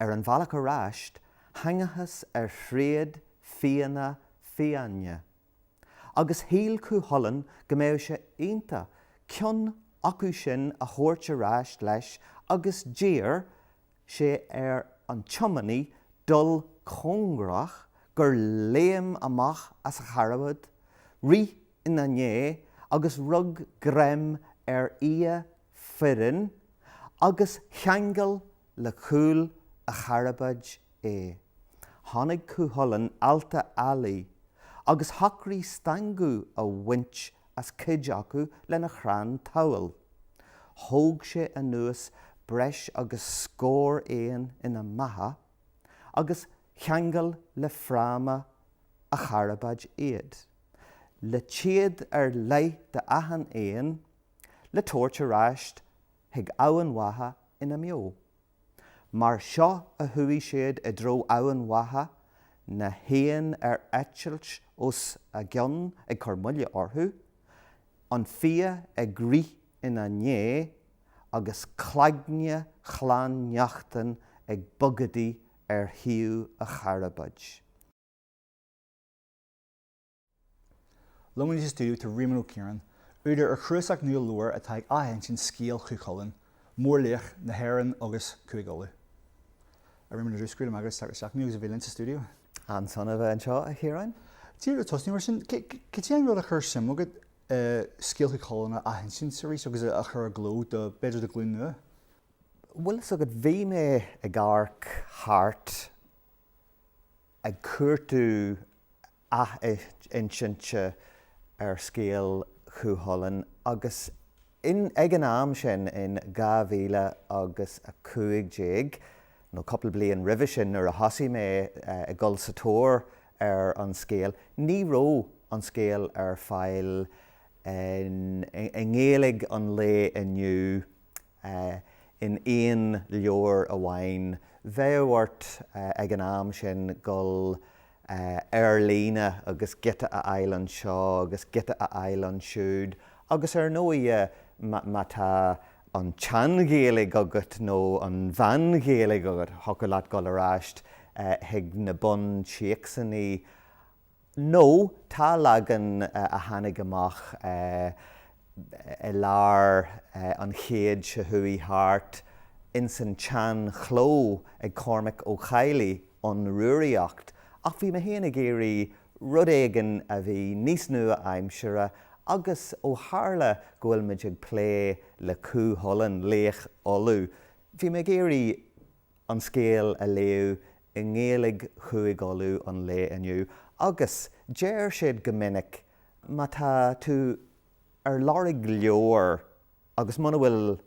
Ar an bhealach ar ais, thangthas ar thréad fianna fiáine, agus shíl Cú Chulainn go mbeadh sé iontach ceann acu sin a thabhairt ar ais leis agus d'iarr sé ar an tiománaí dul cóngarach gur léim amach as a charbad, rith ina ndiaidh agus rug greim ar fhia fireann agus cheangail le cúl a charbaid é. Tháinig Cú Chulainn ar ealta ealaí agus shocraigh stangadh a bhaint as cuid acu lena chrann tabhaill. Thóg sé anuas breis agus scór éan ina mbeatha agus cheangail le fráma a charbaid iad. Le téad ar leith d'achan éan, le tabhairt ar ais chuig Eamhain Mhacha ina mbeo. Mar seo a chuaigh siad i dtreo Eamhain Mhacha, na héin ar eitilt os a gcionn ag cur moille orthu, an fia ag rith ina ndiaidh agus cloigne Chlann Neachtain ag bogadaigh ar thaobh a charbaid. Liom anois sa stiúideo tá Réamonn Ó Ciaráin, údar ar chnuasach nua leabhar atá ag athinsint scéal Chú Chulainn, mórlaoch na hÉireann agus Cúige Uladh. A Réamoinn, go raibh maith agat as teacht isteach agus a bheith linn sa stiúideo. An-sona a bheith anseo, a Chiaráin? Díreach ag tosú mar sin, cad é an rud a chuir suim agat i scéal Chú Chulainn a athinsint arís agus a chur i gcló do, b'fhéidir do ghlúin nua? Bhfuil fhios agat, bhí mé ag amharc thart ag cuartú athinsinte ar scéal Chú Chulainn agus ag an am sin in dhá mhíle agus a cúig déag, nó cúpla bliain roimhe sin nuair a thosaigh mé ag dul sa tóir ar an scéal, ní raibh an scéal ar fáil i nGaeilg an lae inniu in aon leabhar amháin. Bheadh ort ag an am sin dul ar líne agus giota a fháil anseo agus giota a fháil ansiúd agus ar ndóighe má tá an tSean-Ghaeilg agat nó an Mheán-Ghaeilg agat, thiocfadh leat dul ar ais chuig na buntéacsannaí. nó tá leagan a tháinig amach i lár an chéid seo chuaigh thart ins an tsean chló ag Cormac Ó Cadhlaigh An Rúraíocht ach bhí mé féin ag iarraidh rud éigin a bhí níos nua-aimseartha agus ó tharla go bhfuil muid ag plé le Cú Chulainn, laoch Uladh, bhí mé ag iarraidh. an scéal a léadh i nGaeilge Chúig Uladh an lae inniu agus deir siad go minic má tá tú ar lorg leabhair agus muna bhfuil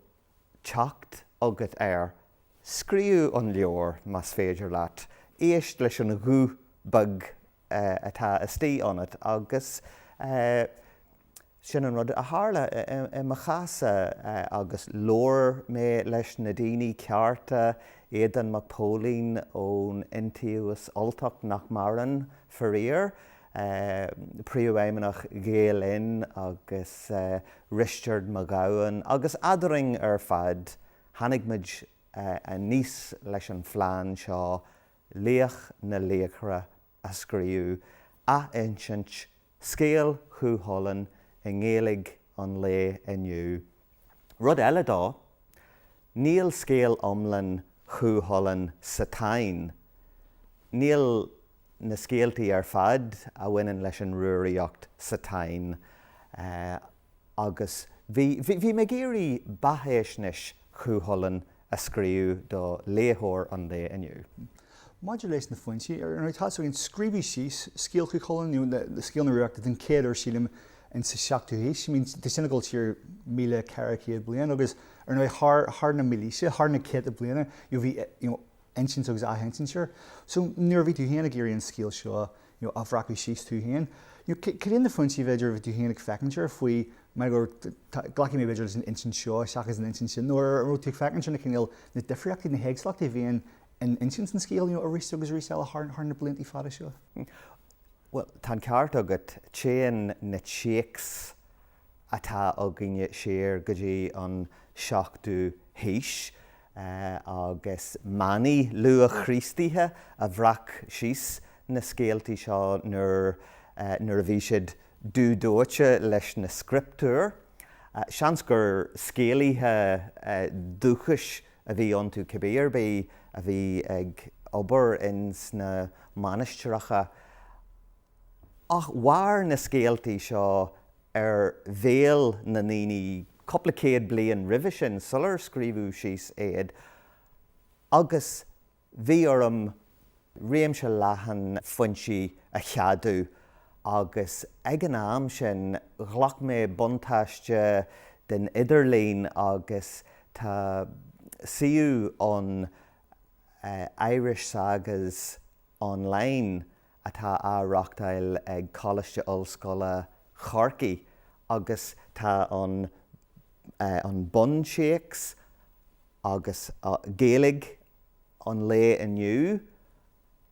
teacht agat air, scríobh an leabhar más féidir leat, éist leis an ghuth beag atá istigh ionat agus. Sin an rud a tharla i mo chás-sa agus labhair mé leis na daoine cearta, Aodán Mac Póilin ón Iontaobhas Ultach, nach maireann, faraor, Príomhfheidhmeannach Ghael Linn agus Risteard Mac Gabhann agus eadrainn ar fad tháinig muid aníos leis an phlean seo, Laoch na Laochra a scríobh, athinsint Scéal Chú Chulainn i nGaeilge an lae inniu. Rud eile de, níl scéal iomlán Chú Chulainn sa Táin. Níl na scéaltaí ar fad a bhaineann leis an Rúraíocht sa Táin. agus bhí, bhí, bhí mé ag iarraidh beathaisnéis Chú Chulainn a scríobh do léitheoir an lae inniu. Maidir leis na foinsí, ar ndóigh, tá, sílim, scríobhadh síos scéal Chú Chulainn, nó scéal na Rúraíochta den chéad uair, sílim, ins an seachtú haois, I mean, tá sin ag dul siar míle ceithre chéad bliain, agus, ar ndóigh, thar, thar na mílaoise, thar na céadta bliana, you know, bhí, you know, insint agus athinsint air. So nuair a bhí tú féin ag iarraidh an scéal seo a bhreacadh síos tú féin, cad iad na foinsí b'fhéidir a bhí tú féin ag féachaint air faoi mar gur, glacfaidh mé b'fhéidir leis an insint seo seachas an insint sin, nó an raibh tú ag féachaint ar na cineál, na difríochtaí, na héagsúlachtaí a bhíonn in insint an scéil arís agus arís eile thar na blianta fada seo? Bhuel, tá an ceart agat, téann na téacsanna. atá againne siar go dtí an seachtú haois agus manaigh luath-Chríostaithe a bhreac síos na scéaltaí seo nuair a bhí siad dúdóite leis na scrioptúir. Seans gur scéalaithe dúchais a bhí iontu cibé ar bith a bhí ag obair ins na mainistreacha. Ach mhair na scéaltaí seo ar bhéal na ndaoine cúpla céad bliain roimhe sin, sular scríobhadh síos iad, agus bhí orm réimse leathan foinsí a cheadú, agus ag an am sin, ghlac mé buntáiste den idirlíon, agus tá suíomh ann, Irish Sagas Online. atá á reachtáil ag Coláiste Ollscoile Chorcaí agus tá an buntéacs agus Gaeilge an lae inniu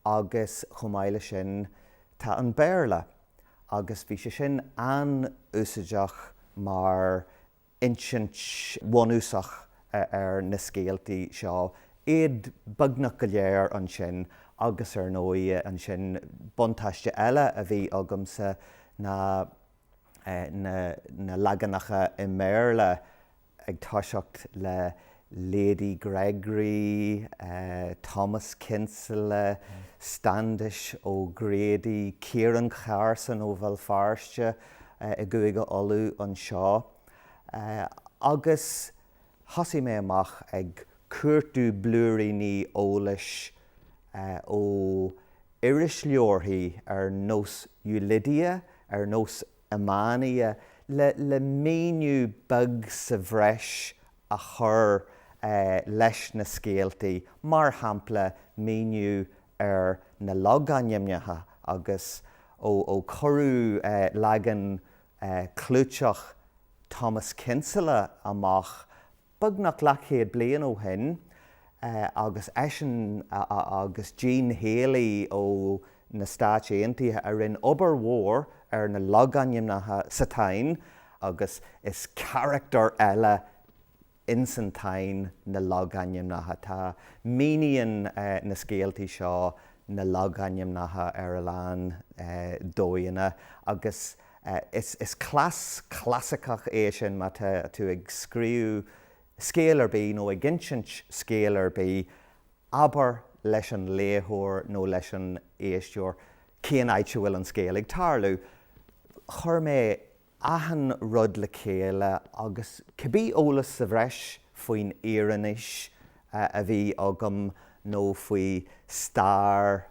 agus chomh maith leis sin tá an Béarla agus bhí sé sin an-úsáideach mar insint bhunúsach ar na scéaltaí seo, iad beagnach go léir ansin agus ar ndóigh ansin buntáiste eile a bhí agamsa ná na leaganacha i mBéarla ag toiseacht le Lady Gregory, Thomas Kinsella, Standish O'Grady, Ciaran Carson ó Bhéal Feirste i gCúige Uladh anseo agus thosaigh mé amach ag cuartú blúiríní eolais ó irisleabharthaí ar nós Ulidia, ar nós Emania, le míniú beag sa bhreis a chur leis na scéaltaí, mar shampla míniú ar na logainmneacha agus ó cuireadh leagan clúiteach Thomas Kinsella amach Beagnach leathchéad bliain ó shin, agus eisean agus Gene Haley ó na Stáit Aontaithe a rinne obair mhór ar na logainmneacha sa Táin, agus is carachtar eile ins an Táin na logainmneacha. Tá, míníonn na scéaltaí seo na logainmneacha ar a lán dóigheanna, agus. Is cleas clasaiceach é sin má tá tú ag scríobh scéil ar bith nó ag insint scéil ar bith, abair leis an léitheoir nó leis an éisteoir cén áit a bhfuil an scéal ag tarlú. Chuir mé achan rud le chéile agus cibé eolas sa bhreis faoin Iarannaois a bhí agam nó faoi stair.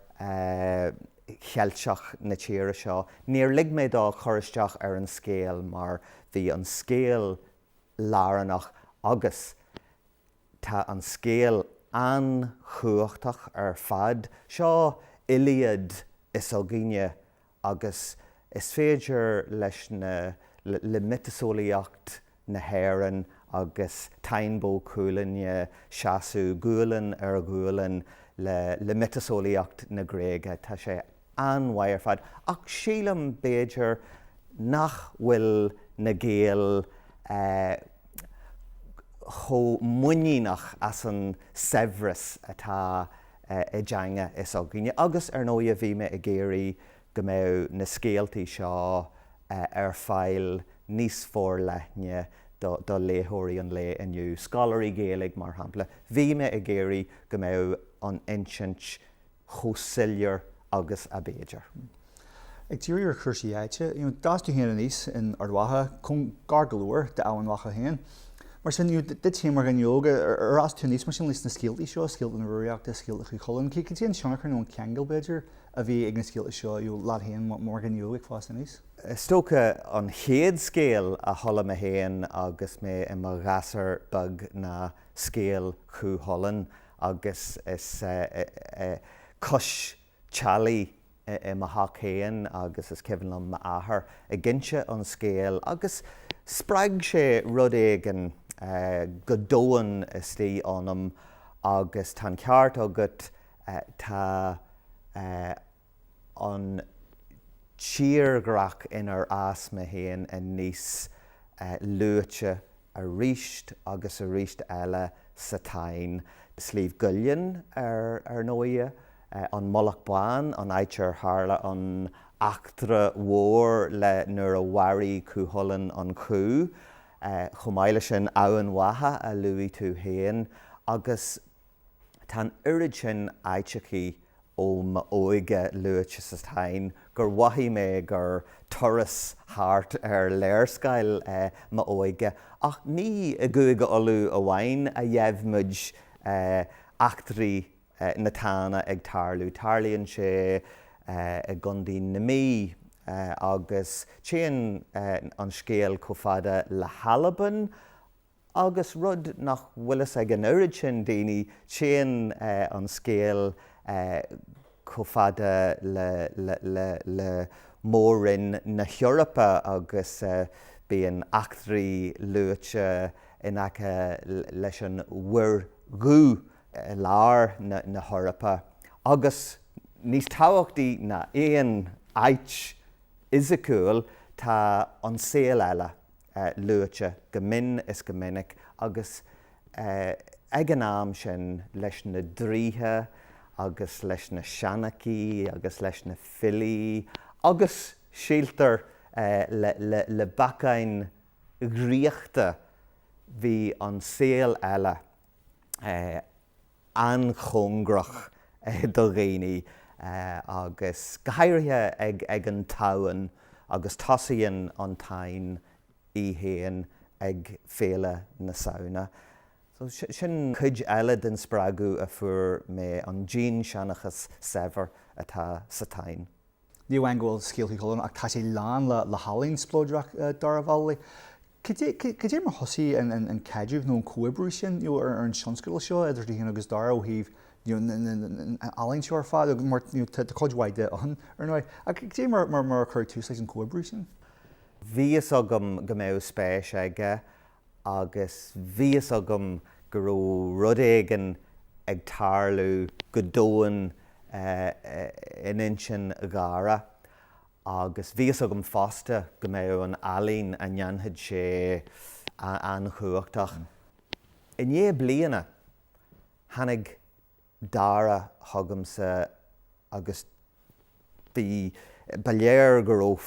Cheilteach na tíre seo. Níor lig mé dó cur isteach ar an scéal mar bhí an scéal lárnach agus tá an scéal an-chumhachtach ar fad. Seo Iliad is againne agus is féidir leis na, le miotaseolaíocht na hÉireann agus Táin Bó Cuailgne seasamh gualainn ar ghualainn le miotaseolaíocht na Gréige. Tá sé an-mhaith ar fad ach sílim b'fhéidir nach bhfuil na Gaeil chomh muiníneach as an saibhreas atá i dteanga s'againne agus, ar ndóigh, a bhí mé ag iarraidh go mbeadh na scéaltaí seo ar fáil níos forleithne do léitheoirí an lae inniu, scoláirí Gaeilge mar shampla. Bhí mé ag iarraidh go mbeadh an insint chomh soiléir agus a b'fhéidir. Ag díriú ar chúrsaí áite, d'fhás tú féin aníos in Ard Mhacha, gar go leor d'Eamhain Mhacha féin. Mar sin, duit féin mar dhuine óg, ar fhás tú aníos mar sin leis na scéaltaí seo, scéalta na Rúraíochta, scéalta Chú Chulainn? Cad é an tionchar nó an ceangal, b'fhéidir, a bhí ag na scéalta seo, leat féin mar dhuine óg ag fás aníos. Is dócha an chéad scéal a chuala mé féin agus mé i mo ghasúr beag ná scéal Chú Chulainn agus is cois teallaigh é i mo theach féin agus is cuimhin liom m'athair ag inse an scéil agus spreag sé rud éigin go domhain istigh ionam agus tá an ceart agat, Tá an tírdhreach inar fhás mé féin aníos luaite arís agus arís eile sa Táin, Sliabh gCuillinn, ar ndóighe, an Mullach Bán, an áit ar tharla an eachtra mhór le nuair a mharaigh Cú Chulainn an cú, chomh maith leis sin, Eamhain Mhacha, a luaigh tú féin, agus Tá an oiread sin áiteachaí ó m'óige luaite sa Táin gur mhothaigh mé gur turas thart ar léarscáil m'óige, ach ní i gCúige Uladh amháin a gheibh muid eachtraí na Tána ag tarlú. Tarlaíonn sé i gContae na Mí agus téann an scéal chomh fada le hAlbain, Agus rud nach bhfuil a fhios ag an oiread sin daoine, téann an scéal chomh fada le Mór-Roinn na hEorpa agus bíonn eachtraí luaite in aice leis an Mhuir Dhubh i lár na hEorpa agus, níos tábhachtaí ná aon áit fhisiciúil, tá an saol eile, luaite go mion is go minic agus ag an am sin leis na draoithe agus leis na seanchaithe agus leis na filí agus, síltear, le bacáin dhraíochta. Bhí an saol eile. an-chóngarach do dhaoine agus go háirithe ag an tSamhain agus tosaíonn an Táin í féin ag Féile na Samhna. So sin cuid eile den spreagadh a fuair mé, an dinnseanchas saibhir atá sa Táin. Ní amháin go bhfuil scéaltaí Chú Chulainn ach tá sé lán le healaín spleodrach Dara Vallely. Cad é mar thosaigh an caidreamh nó an comhoibriú sin ar an tionscadal seo idir tú féin agus Dara ó thaobh an ealaín seo ar fad, mar tá cuid mhaith de ann, ar ndóigh, ach cad é mar a cuireadh tús leis an gcomhoibriú sin? Bhí fhios agam go mbeadh spéis aige agus bhí fhios agam go raibh rud éigin ag tarlú go domhain in intinn Dhara agus bhí fhios agam fosta go mbeadh an ealaín a ndéanfadh sé an-chumhachtach. I ndiaidh bliana, tháinig Dara chugamsa agus bhí, ba léir go raibh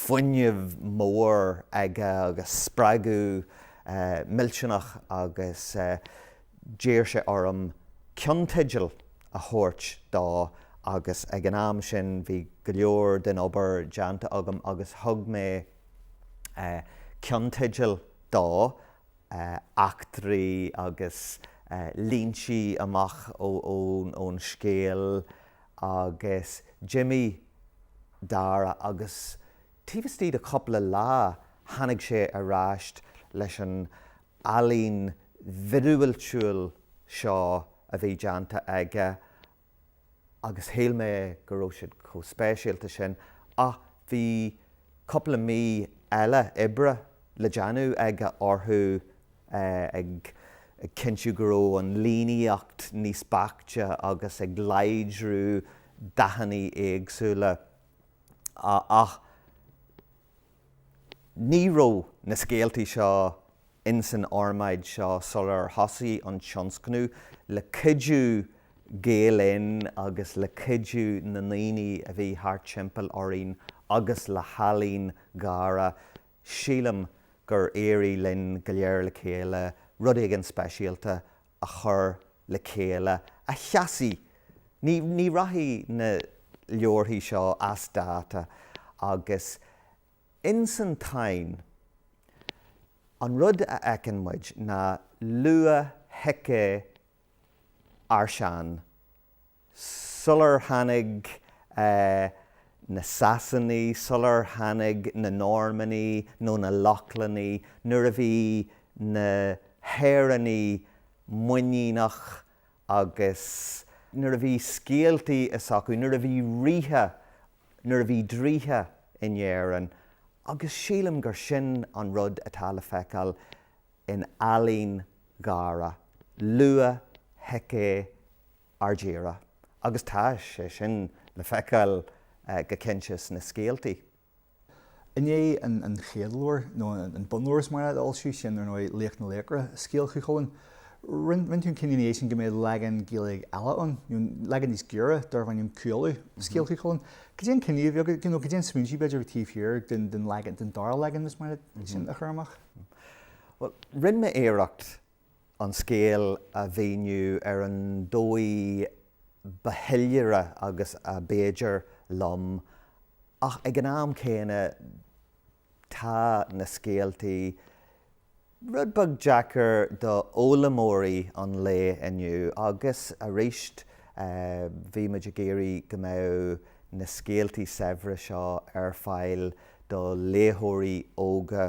fuinneamh mór aige agus spreagadh millteanach agus d'iarr sé orm ceannteidil a thabhairt dó agus ag an am sin bhí go leor den obair déanta agam agus thug mé ceannteidil dó eachtraí agus líntí amach ón scéal agus d'imigh Dara agus taobh istigh de chúpla lá tháinig sé ar ais leis an ealaín mhíorúiltiúil seo a bhí déanta aige agus shíl mé go raibh siad chomh speisialta sin ach bhí cúpla mí eile oibre le déanamh aige orthu ag cinntiú go raibh an líníocht níos beaichte agus ag láidriú dathanna éagsúla ach Ní raibh na scéaltaí seo insan fhormáid seo sular thosaigh an tionscnamh, le cuidiú Gael Linn agus le cuidiú na ndaoine a bhí thart timpeall orainn agus le healaín Dhara, sílim gur éirigh linn go léir le chéile rud éigin speisialta a a chur le chéile a sheasfaidh Ní ní rachaidh na leabharthaí seo as dáta agus ins an Táin an rud a fheiceann muid ná luath-shícé ár sean, sular tháinig na Sasanaigh, sular tháinig na Normannaigh nó na Lochlannaigh, nuair a bhí na hÉireannaigh muiníneach agus nuair a bhí scéaltaí s'acu, nuair a bhí ríthe, nuair a bhí draoithe in Éirinn, agus sílim gur sin an rud atá le feiceáil in ealaín Dhara luath-shícé ár dtíre, agus tá sé sin le feiceáil go cinnte sna scéaltaí. I ndiaidh an chéad leabhair, nó an bunleabhar is mar é, a d'fhoilsigh sé, ar ndóigh, Laoch na Laochra, Scéal Chú Chulainn, rinne tú an cinneadh ina dhiaidh sin go mbeadh leagan Gaeilge eile ann, nó leagan níos giorra, darbh ainm Cú Uladh, Scéal Chú Chulainn. Cad é an cinneadh a bhí agat, nó cad é an smaointiú b'fhéidir taobh thiar den dara leagan, is mar sin, a chur amach? Bhuel, rinne mé iarracht an scéal a mhíniú ar an dóigh ba shoiléire agus ab fhéidir liom, ach ag an am céanna tá na scéaltaí rud beag deacair do fhoghlaimeoirí an lae inniu agus aríst bhí muid ag iarraidh go mbeadh na scéaltaí saibhre seo ar fáil do léitheoirí óga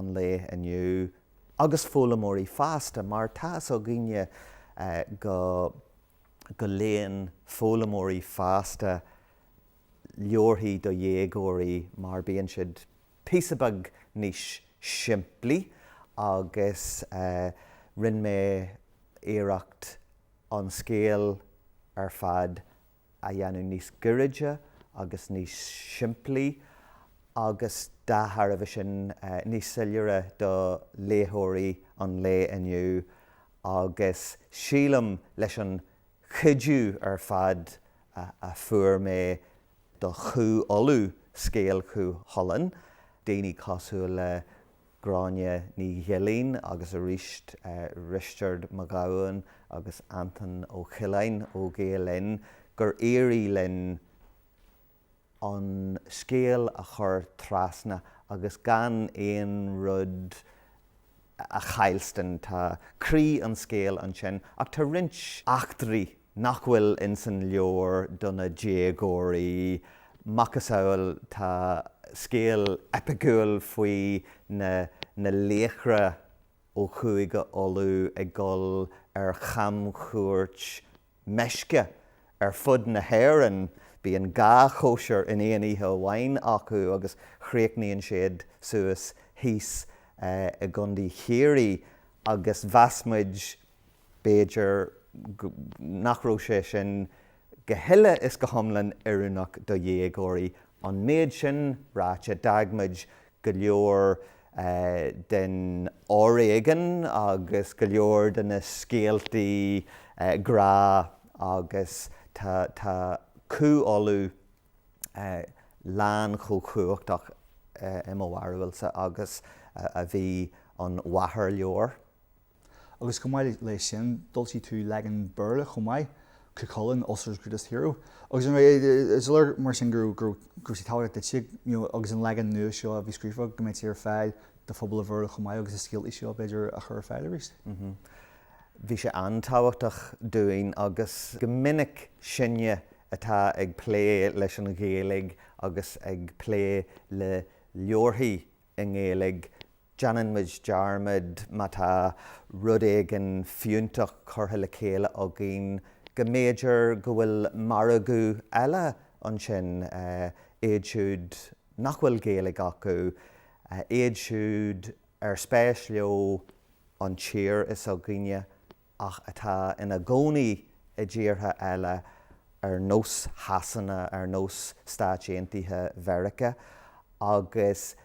an lae inniu. agus foghlaimeoirí fásta, mar tá fhios againne go léann foghlaimeoirí fásta leabharthaí do dhéagóirí mar bíonn siad píosa beag níos simplí agus rinne mé iarracht an scéal ar fad a dhéanamh níos gairide agus níos simplí agus, dá thairbhe sin, níos soiléire do léitheoirí an lae inniu agus sílim, leis an chuidiú ar fad a fuair mé do Chú Uladh, scéal Chú Chulainn, daoine cosúil le Gráinne Ní Ghilín agus aríst Risteard Mac Gabhann agus Antoine Ó Coileáin ó Gael Linn gur éirigh linn an scéal a chur trasna agus gan aon rud a chaillstean. Tá croí an scéil ansin ach tá roinnt eachtraí nach bhfuil ins an leabhar do na déagóirí, macasamhail tá scéal eipiciúil faoi na laochra ó Chúige Uladh ag dul ar chamchuairt meisce ar fud na hÉireann, bíonn dhá chóisir in aon oíche amháin acu agus chríochnaíonn siad suas thíos i gContae Chiarraí agus mheas muid, b'fhéidir nach raibh sé sin go huile is go hiomlán oiriúnach do dhéagóirí. An méid sin ráite, d'fhág muid go leor den fhoréigean agus go leor de na scéaltaí grá agus tá Cú Uladh lán chomh cumhachtach, i mo bharúilsa, agus a bhí an mháthairleabhar. Agus chomh maith leis sin, d'fhoilsigh tú leagan Béarla chomh maith, Cuchulainn, Ulster's Greatest Hero. Agus is léir mar sin go raibh, go raibh sé tábhachtach duitse, you know, agus an leagan nua seo a bhí scríofa, go mbeadh sé ar fáil do phobal an Bhéarla chomh maith agus na scéaltaí seo, b'fhéidir, a chur ar fáil arís? Mm-hm. Bhí sé an-tábhachtach dúinn agus go minic sinne atá ag plé leis an Ghaeilge agus ag plé le leabharthaí i nGaeilge, déanann muid dearmad, má tá rud éigin fiúntach curtha le chéile againn, go mb'fhéidir go bhfuil margadh eile ansin, iad siúd nach bhfuil Gaeilge acu, iad siúd ar spéis leo an tír, is againne ach atá ina gcónaí i dtíortha eile ar nós Shasana, ar nós Stáit Aontaithe Mheiriceá, agus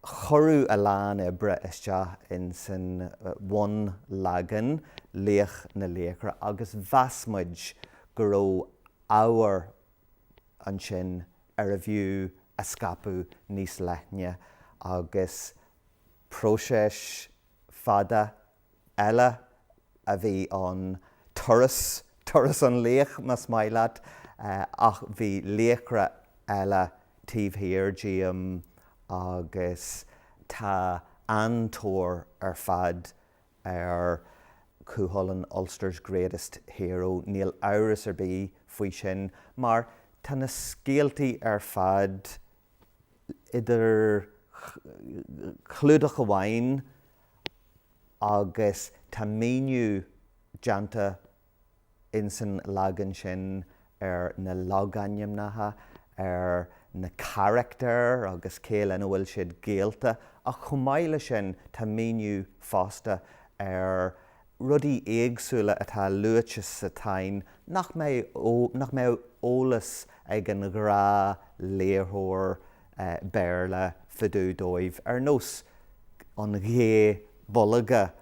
cuireadh a lán oibre isteach ins an bhunleagan, Laoch na Laochra, agus mheas muid go raibh ábhar ansin arbh fhiú a scaipeadh níos leithne, agus próiseas fada eile a bhí ann, turas, turas an laoich más maith leat, ach bhí laochra eile taobh thiar díom agus tá an-tóir ar fad ar Cúchulainn, Ulster's Greatest Hero, níl amhras ar bith faoi sin mar tá na scéaltaí ar fad, idir chlúdach amháin agus tá míniú déanta insan leagan sin ar na logainmneacha, ar na carachtair agus cé lena bhfuil siad gaolta ach chomh maith leis sin tá míniú fosta ar rudaí éagsúla atá luaite sa Táin nach mbeadh, nach mbeadh eolas ag an ghnáthléitheoir Béarla fá dtaobh díobh, ar nós an gha bolga,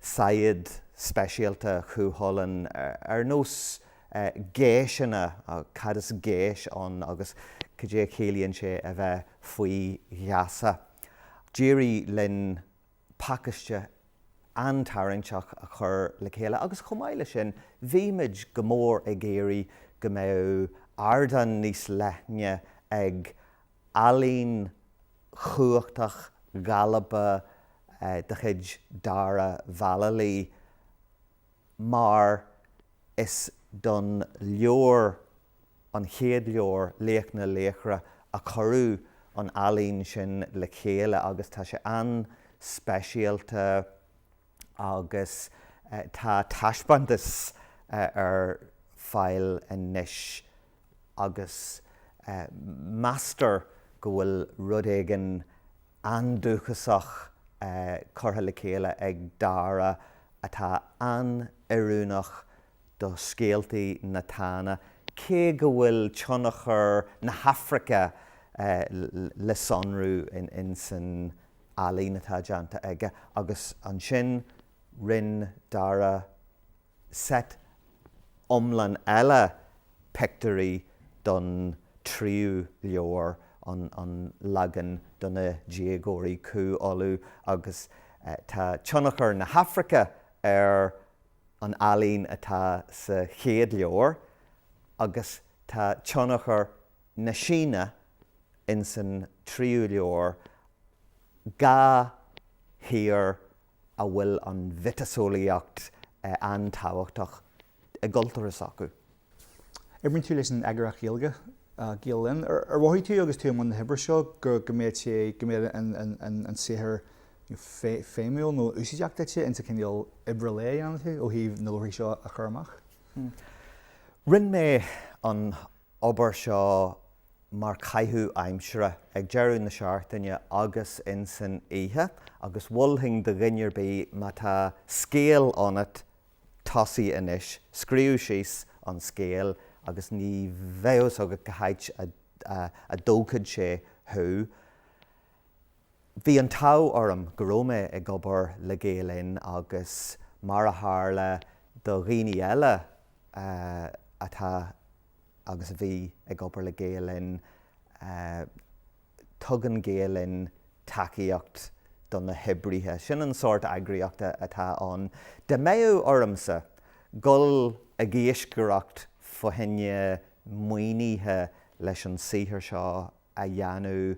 saighead speisialta Chú Chulainn, ar nós geiseanna, cad is geis ann agus cad é a chiallaíonn sé a bheith faoi gheasa. D'éirigh linn pacaiste an-tarraingteach a chur le chéile agus chomh maith leis sin bhí muid go mór ag iarraidh go mbeadh ardán níos leithne ag ealaín chumhachtach ghalánta de chuid Dara Vallely, mar is don leabhar, an chéad leabhar, Laoch na Laochra, a cuireadh an ealaín sin le chéile agus tá sé an-speisialta agus tá taispeántas ar fáil anois agus meastar go bhfuil rud éigin an-dúchasach curtha le chéile ag Dara atá an-oiriúnach do scéaltaí na Tána, cé go bhfuil tionchar na hAfraice le sonrú ins an ealaín atá déanta aige, agus ansin rinne Dara seit iomlán eile pictiúirí don tríú leabhar, an leagan do na déagóirí, Cú Uladh, agus tá tionchar na hAfraice ar an ealaín atá sa chéad leabhar agus tá tionchar na Síne insan tríú leabhar, dhá thír a bhfuil an mhiotaseolaíocht an-tábhachtach i gcultúr s'acu. Oibríonn tú leis an eagraíocht Ghaeilge, Gael Linn. Ar mhothaigh tú agus tú i mbun na hoibre seo go mbeadh sé, go mbeadh an saothar feidhmiúil nó úsáideach duit ins an chineál oibre lae a dhéanann tú ó thaobh na leabharthaí seo a chur amach? Rinne mé an obair seo mar chaitheamh aimsire ag deireadh na seachtaine agus insan oíche agus mholfainn do dhuine ar bith má tá scéal ionat tosaigh anois, scríobh síos an scéal agus ní bheidh a fhios agat cá háit a dtógfaidh sé thú. Bhí an t-ádh orm go raibh mé ag obair le Gael Linn agus mar a tharla do dhaoine eile atá agus a bhí ag obair le Gael Linn, tugann Gael Linn tacaíocht do na hoibrithe. Sin an sórt eagraíochta atá ann. Dá mbeadh ormsa dhul ag iascaireacht fá choinne maoinithe leis an saothar seo a dhéanamh.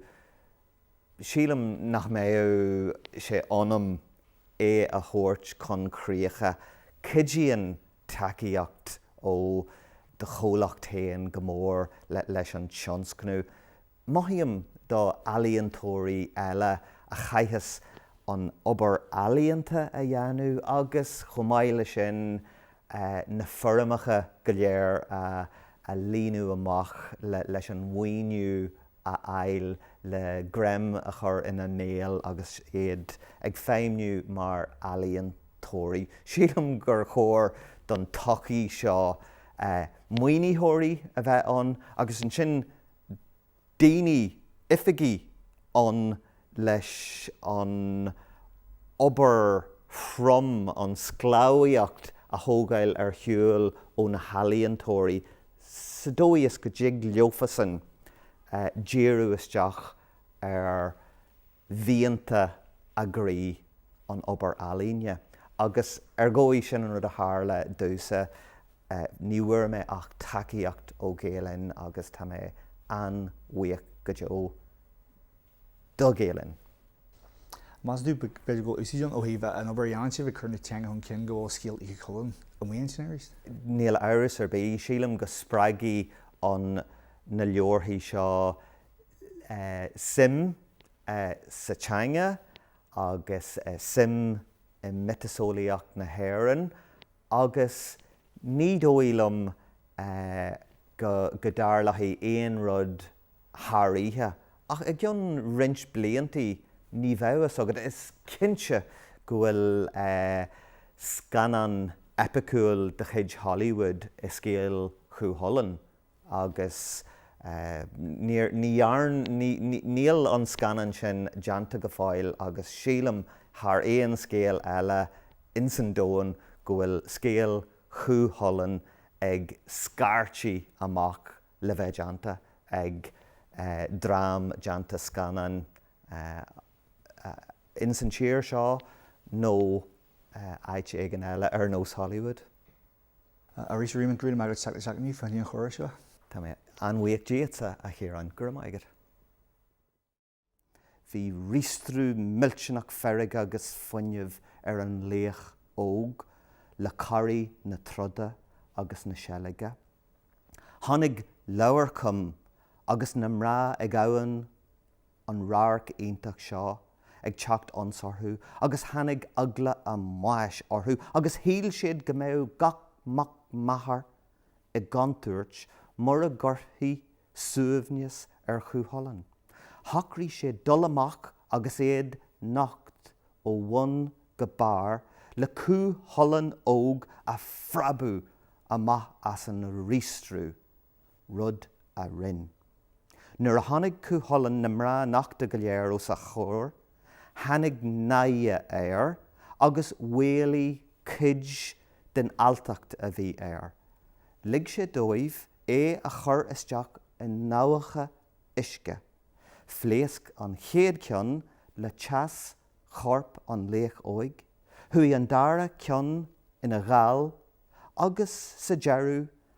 Sílim nach mbeadh sé ionam é a thabhairt chun críche. Cuidíonn tacaíocht ó do chomhlacht féin go mór leis an tionscnamh. Mothaím do ealaíontóirí eile a chaitheas an obair ealaíonta a dhéanamh agus, chomh maith le sin, na foirmeacha go léir a líonadh amach leis an mhaoiniú a fháil le greim a chur ina mbéal agus iad ag feidhmniú mar ealaíontóirí. Sílim gur chóir don tsochaí seo maoinitheoirí a bheith ann agus ansin daoine, oifigigh ann leis an obair throm, an sclábhaíocht a thógáil ar shiúl ó na healaíontóirí sa dóigh is go dtig leofasan díriú isteach ar mhianta a gcroí an obair ealaíne agus ar ndóigh sin an rud a tharla domhsa, ní bhfuair mé ach tacaíocht ó Ghael Linn agus tá mé an-bhuíoch go deo do Ghael Linn. Agus is dóigh, b'fhéidir go bhfuil úsáid ann ó thaobh an obair a dhéanann sibh ag cur na teanga chun cinn go bhfuil scéal Chú Chulainn amuigh ansin arís? Níl amhras ar bith, sílim go spreagfaidh an na leabharthaí seo suim sa teanga agus suim i miotaseolaíocht na hÉireann agus ní dóigh liom go dtarlódh aon rud thar oíche ach i gcionn roinnt bliantaí ní bheadh fhios agat. Is cinnte go bhfuil scannán eipiciúil de chuid Hollywood i Scéal Chú Chulainn. agus níor, ní dhearn, ní, ní, níl an scannán sin déanta go fóill agus sílim thar aon scéal eile ins an domhan go bhfuil scéal Chú Chulainn ag scairtigh amach le bheith déanta ag dream déanta scannáin ins an tír seo nó áit éigin eile ar nós Hollywood. Arís, a Réamainn, go raibh míle maith agat. Seacht seachtainí faoi thionchar an chórais seo. Tá mé an-bhuíoch díot, a Chiaráin. Go raibh maith agat. Bhí riastrú millteanach feirge agus fuinnimh ar an laoch óg le corraí na troda agus na seilge. Tháinig Leabharcham agus na mná ag abhainn an radharc iontach seo ag teacht ionsorthu agus tháinig eagla a mbáis orthu agus shíl siad go mbeadh gach mac máthar i gcontúirt mura gcuirfi suaimhneas ar Chúchulainn. Shocraigh siad dul amach agus iad nocht ó bhun go barr le Cú Chulainn óg a phreabadh amach as an riastrú. rud a rinn. Nuair a chonaic Cú Chulainn na mná nochta go léir os a chomhair, tháinig náire air agus mhaolaigh cuid den alltacht a bhí air. Lig sé dóibh é a chur isteach i ndabhacha uisce. Phléasc an chéad ceann le teas chorp an laoich óig, chuaigh an dara ceann ina ghal agus sa deireadh